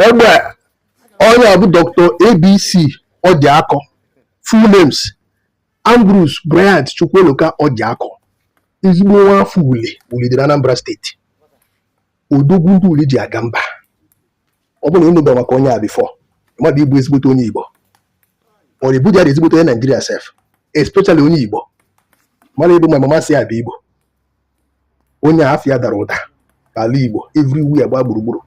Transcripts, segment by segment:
egbe onye a bụ dr abc orjiako full names ambrose bryant chukwueloka orjiako ezigbo nwa afọ uli uli dị na anambra steeti odogwu ndị uli ji aga mba ọ bụrụ na ị nụba maka onye a before mmadụ ịbụ ezigbote onye igbo ọ na ebuja dị ezigbote onye naijiria sef especially onye igbo mara ebe ma mama si abịa igbo onye afịa dara ụda ala Igbo everywhere gba gburugburu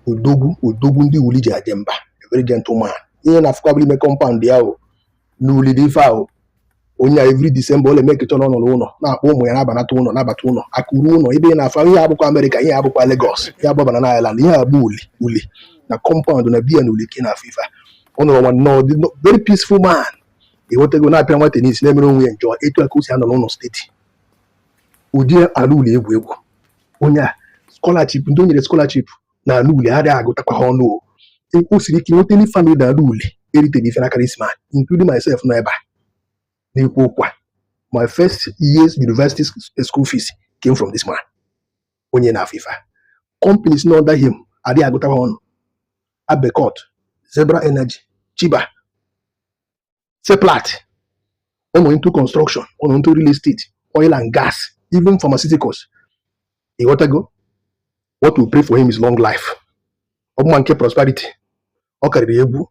odogwu odogwu ndị uli ji aje mba very gentleman ihe ị na-afụ ka bụ ime kọmpaụnd ya ọ n'uli dị ife ahụ onye a every December ọ na-emake sure n'ọ nọrọ ụlọ na-akpọ ụmụ ya na-abanata ụlọ nabata ụlọ akụrụ ụlọ ebe ị na-afụ ihe a abụkwa Amerịka ihe a abụkwa Lagos ihe a abụ Banana Island ihe a bụ uli uli na kọmpaụnd na be ya na uli ka ị na-afụ ife a ọ nọrọ nwayọọ dị nnọọ- very peaceful man ịghọtago na-apịa nwa tenis na-emere onwe ya enjoy etu a ka o si anọ n'ụlọ steeti ụdị ala uli egwu egwu onye a scholarship ndị o nyere scholarship na ala uli adịghị agụtakwa ha ọnụ o E- o siri ike nweta ndị famili na ala uli eriteghị ife n'aka this man including myself nọ ebe a na-ekwu okwu a my first year's university sc- school fees came from this man onye ị na-afụ ife a companies nọ under him adịghị agụtakwa ọnụ abbeycourt zebbra energy shebah seplat ọ nọ into construction ọ nọ into real estate oil and gas even pharmaceuticals ịghọtago what we pray for him is long life ọ bụma nke prosperity ọ karịrị egwu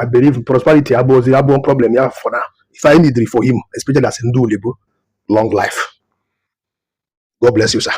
I believe prosperity abụghịzi abụọ problem ya for now if I need for him especially as ndị Ulibo long life God bless you sir